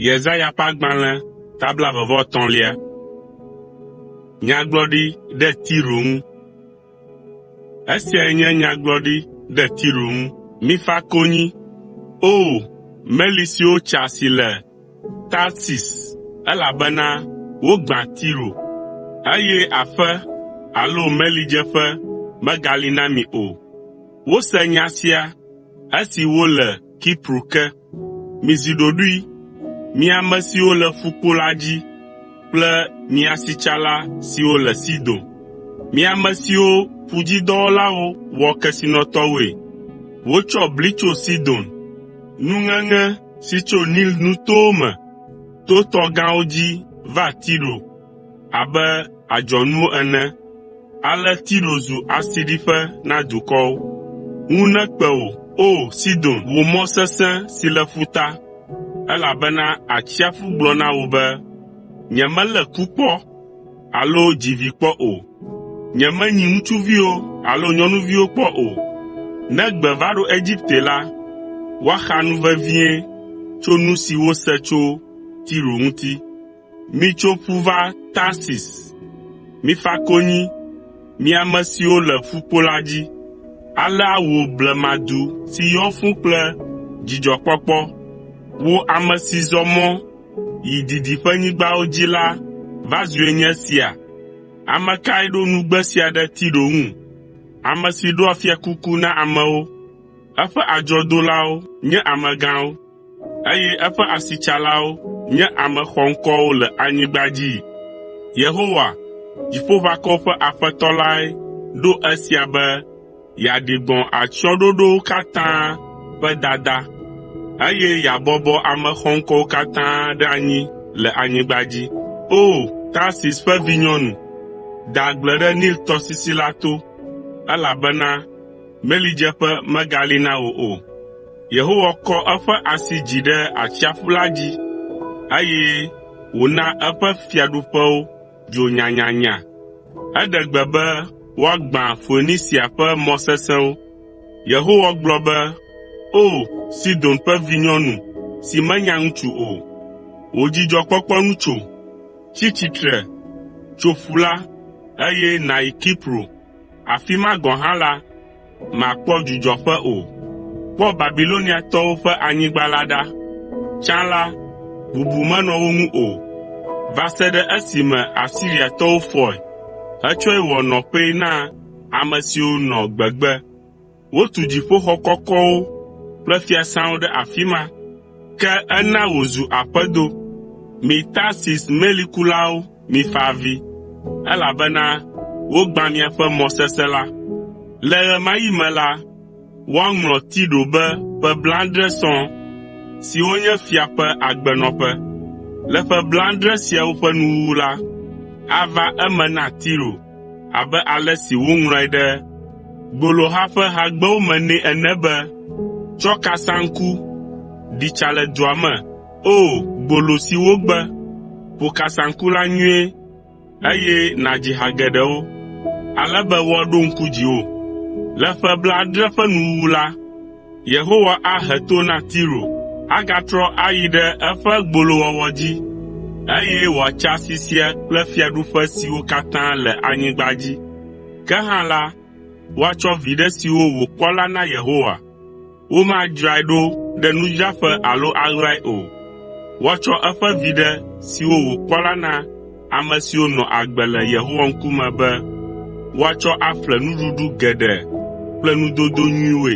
Yesaya ƒe agbalẽ ta blaeve-vɔ-etɔ̃lia. Nyagblɔɖi ɖe Tiro ŋu. Esiae nye nyagblɔɖi ɖe Tiro ŋu. Mifa konyi, O! Meli siwo tsa si le Tarsis, elabena wogbã Tiro, eye aƒe alo melidzeƒe megali na mi o. Wose nya sia esi wole Kipro ke. Mizi ɖoɖoe, mi ame siwo le ƒukpo la dzi kple mi asitsala siwo le Sidon, mi ame siwo ƒudzidɔwɔlawo wɔ kesinɔtɔwoe. Wotsɔ bli tso Sidon, nuŋeŋe si tso Nil nutowo me to tɔ gãwo dzi va Tiro. abe adzɔnuwo ene. Ale Tiro zu asiɖiƒe na dukɔwo. Ŋu nekpe wò, O! Sidon, wò mɔ sesẽ si le ƒuta, elabena atsiaƒu gblɔ na wò be, “Nyemelé ku kpɔ alo dzi vi kpɔ o. Nyemenyi ŋutsuviwo alo nyɔnuviwo kpɔ o.” Ne gbe va ɖo Egipte la, woaxa nu vevie tso nu si wose tso Tiro ŋuti. Mitso ƒu va Tarsis, mifa konyi, mi ame siwo le ƒukpo la dzi. Alea wò blemadu si yɔ fũ kple dzidzɔkpɔkpɔ, wò ame si zɔ mɔ yi didiƒenyigbawo dzi la va zue nye esia? Ame kae ɖo nugbe sia ɖe Tiro ŋu, ame si ɖoa fiakuku na amewo, eƒe adzɔdolawo nye amegãwo, eye eƒe asitsalawo nye ame xɔŋkɔwo le anyigba dzii. Yehowa, Dziƒoʋakɔwo ƒe Aƒetɔ lae ɖo esia be yeaɖi gbɔ̃ atsyɔ̃ɖoɖowo katã ƒe dada, eye yeabɔbɔ ame xɔŋkɔwo katã ɖe anyi le anyigba dzi. O! Tarsis ƒe vinyɔnu, de agble ɖe Nil tɔsisi la to, elabena melidzeƒe megali na wò o. Yehowa kɔ eƒe asi dzi ɖe atsiaƒu la dzi, eye wòna eƒe fiaɖuƒewo dzo nyanyanya. Eɖe gbe be woagbã Foenisia ƒe mɔ sesẽwo. Yehowa gblɔ be, “O, Sidon ƒe vinyɔnu si menya ŋutsu o, wò dzidzɔkpɔkpɔ nu tso! Tsi tsitre, tso ƒu la, eye nàyi Kipro. Afi ma gɔ̃ hã la, màkpɔ dzudzɔƒe o. Kpɔ Babiloniatɔwo ƒe anyigba la ɖa. Tsã la, bubu menɔ wo ŋu o, va se ɖe esime Asiriatɔwo fɔe hetsɔe wɔ nɔƒee na ame siwo nɔ gbegbe. Wotu dziƒoxɔ kɔkɔwo kple fiasãwo ɖe afi ma, ke ena wòzu aƒedo. Mi Tarsis melikulawo, mifa avi, elabena wogbã miaƒe mɔ sesẽ la. Le ɣemaɣi me la, woaŋlɔ Tiro be ƒe blaadre sɔŋ, siwo nye fia ƒe agbenɔƒe. Le ƒe blaadre siawo ƒe nuwuwu la, ava eme na Tiro. abe ale si woŋlɔe ɖe Gboloha ƒe Hagbewo me nɛ ene be, “Tsɔ kasaŋku, ɖi tsa le dua me, O! Gbolo si wogbe. Ƒo kasaŋku la nyuie, eye nàdzi ha geɖewo, ale be woaɖo ŋku dziwò.” Le ƒe blaadre ƒe nuwuwu la, Yehowa ahe to na Tiro, agatrɔ ayi ɖe eƒe gbolowɔwɔ dzi, eye wòatsa asi sia kple fiaɖuƒe siwo katã le anyigba dzi. Ke hã la, woatsɔ viɖe siwo wòkpɔ la na Yehowa. Womadzrae ɖo ɖe nudzraƒe alo aɣlae o. Woatsɔ eƒe viɖe siwo wòkpɔ la na ame siwo nɔ agbe le Yehowa ŋkume be woatsɔ aƒle nuɖuɖu geɖe kple nudodo nyuiwoe.